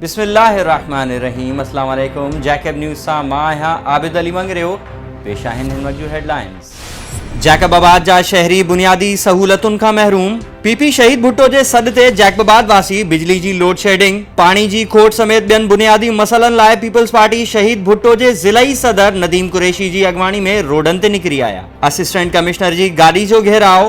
بسم الله الرحمن الرحيم اسلام عليڪم جيڪب نيوز سان مان آهيان عابد علي مڱريو پيش آهن هن وقت جون هيڊلائنز جيڪب آباد جا شهري بنيادي سهولتن کان محروم پي پي شهيد ڀٽو جي سڏ تي جيڪب آباد واسي بجلي جي لوڊ شيڊنگ پاڻي جي کوٽ سميت ٻين بنيادي مسئلن لاء پيپلز پارٽي شهيد ڀٽو جي ضلعي صدر نديم قريشي جي اڳواڻي ۾ روڊن تي نڪري آيا اسسٽنٽ ڪمشنر جي گاڏي جو گهيراء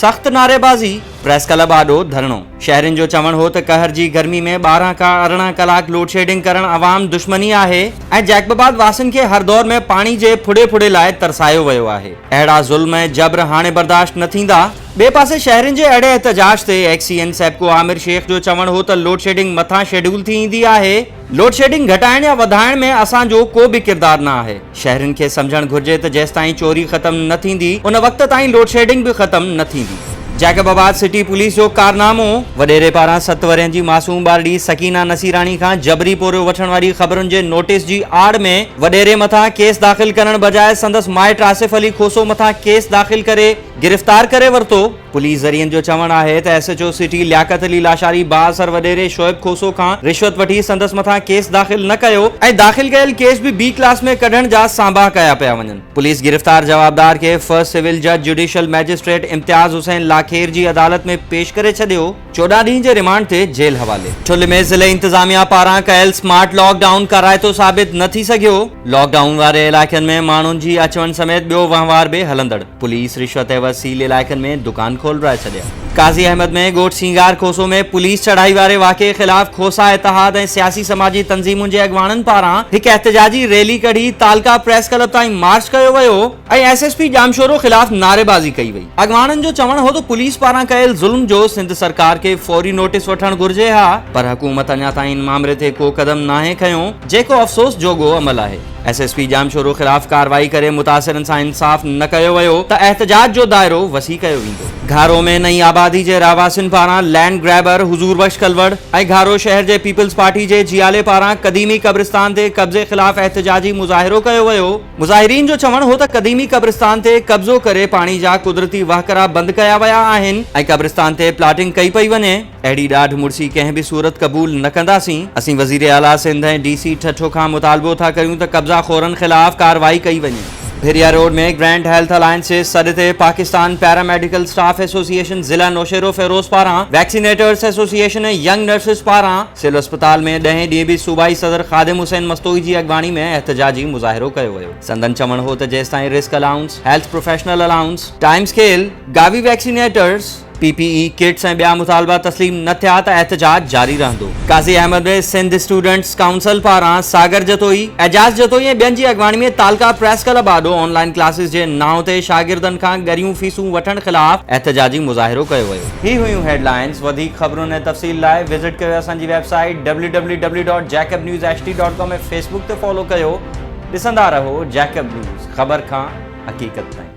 سخت نعريبازي، پريس ڪلب آڏو ڌرڻو، شهرين جو چوڻ هو ته قهر جي گرمي ۾ ٻارهن کان ارڙهن ڪلاڪ لوڊشيڊنگ ڪرڻ عوام دشمني آهي ۽ جيڪبباد واسين کي هر دور ۾ پاڻي جي ڦڙي ڦڙي لاء ترسايو ويو آهي، اهڙا ظلم ۽ جبر هاڻي برداشت نه ٿيندا. ٻئي پاسي شهرين جي اهڙي احتجاج تي X C N SEPCO Aamir Shaikh جو چوڻ هو ته لوڊشيڊنگ مٿان شيڊول ٿي ايندي آهي، لوڊشيڊنگ گهٽائڻ يا وڌائڻ ۾ اسان جو ڪو به ڪردار نه آهي، شهرين کي سمجهڻ گهرجي ته جيستائين چوري ختم نه ٿيندي ان وقت تائين لوڊشيڊنگ به ختم نه ٿيندي. جيڪب آباد سٽي پوليس جو ڪارنامو. وڏيري پاران ست ورهين جي معصوم ٻارڙي سڪينه نصيراڻي کان جبري پورهيو وٺڻ واري خبرن جي نوٽيس جي آڙ ۾ وڏيري مٿان ڪيس داخل ڪرڻ بجاء سندس مائٽ آصف علي کوسو مٿان ڪيس داخل ڪري گرفتار ڪري ورتو. پوليس ذريعن جو چوڻ آهي ته S H O city Liaquat Ali Lashari بااثر وڏيري شعيب کوسو کان رشوت وٺي سندس مٿان ڪيس داخل نه ڪيو ۽ داخل ڪيل ڪيس به بي ڪلاس ۾ ڪڍڻ جا سانباهه ڪيا پيا وڃن پوليس گرفتار جوابدار کي فرسٽ سول جج جوڊيشل مئجسٽريٽ امتياز حسين لاکير جي عدالت ۾ پيش ڪري ڇڏيو. چوڏهن ڏينهن جي ريمانڊ تي جيل حوالي. ٺل ۾ ضلعي انتظاميا پاران ڪيل اسمارٽ لاڪ ڊائون ڪارائتو ثابت نه ٿي سگهيو، لاڪ ڊائون واري علائقن ۾ ماڻهن جي اچ وڃ سميت ٻيو وهنوار به هلندڙ، پوليس رشوت عيوض سيل علائقن ۾ دڪان کولرائي ڇڏيا. قاضي احمد ۾ ڳوٺ سينگار کوسو ۾ پوليس چڙهائي واري واقعي خلاف کوسا اتحاد ۽ سياسي سماجي تنظيمن جي اڳواڻن پاران هڪ احتجاجي ريلي ڪڍي تعلقه پريس ڪلب تائين مارچ ڪيو ويو، ۽ ايس ايس پي ڄامشورو خلاف نعريبازي ڪئي وئي، اڳواڻن جو چوڻ هو ته پوليس پاران ڪيل ظلم جو سنڌ سرڪار کي فوري نوٽيس وٺڻ گهرجي ها پر حڪومت اڃا تائين ان مامري تي ڪو قدم ناهي کنيو جيڪو افسوس جوڳو عمل آهي ايس ايس پي ڄامشورو خلاف ڪارروائي ڪري متاثرن سان انصاف نه ڪيو ويو ته احتجاج جو دائرو وسيع ڪيو ويندو. گهارو ۾ نئين آبادي جي رهواسين پاران لينڊ گريبر حضور بخش ڪلوڙ ۽ گهارو شهر جي پيپلز پارٽي جي جيالي پاران قديمي قبرستان تي قبضي خلاف احتجاجي مظاهرو ڪيو ويو، مظاهرين جو چوڻ هو ته قديمي قبرستان تي قبضو ڪري پاڻي جا قدرتي وهڪرا بند ڪيا ويا آهن ۽ قبرستان تي پلاٽنگ ڪئي پئي وڃي، اهڙي ڏاڍ مڙسي ڪنهن به صورت قبول نه ڪنداسين، اسين وزير اعليٰ سنڌ ۽ ڊي سي ٺٽو کان مطالبو ٿا ڪريون ته قبضا خورن خلاف ڪارروائي ڪئي وڃي. Bhiria road ۾ grand health alliance جي سڏ تي Pakistan para medical staff association ضلع نوشهروفيروز پاران ويڪسينيٽرز ايسوسيئيشن ۽ ينگ نرسز پاران سول اسپتال ۾ ڏهين ڏينهن به صوبائي صدر خادم حسين مستوئي جي اڳواڻي ۾ احتجاجي مظاهرو ڪيو ويو. سندن چوڻ هو ته جيستائين risk allowance, health professional allowance, time scale, Gavi vaccinators, P P E kits ۽ ٻيا مطالبا تسليم نه ٿيا ته احتجاج جاري رهندو. قاضي احمد ۾ سنڌ اسٽوڊنٽس ڪائونسل پاران ساگر جتوئي، اعجاز جتوئي ۽ ٻين جي اڳواڻي ۾ تعلقه پريس ڪلب آڏو آن لائين ڪلاسز جي نانء تي شاگردن کان ڳريون فيسون وٺڻ خلاف احتجاجي مظاهرو ڪيو ويو. هي هيون هيڊلائنز وڌيڪ خبرن ۽ تفصيل لاء وزٽ ڪيو اسان جي website W W W dot Jacob news H D dot com ۽ Facebook تي فالو ڪيو ڏسندا رهو جيڪب نيوز خبر کان حقيقت تائين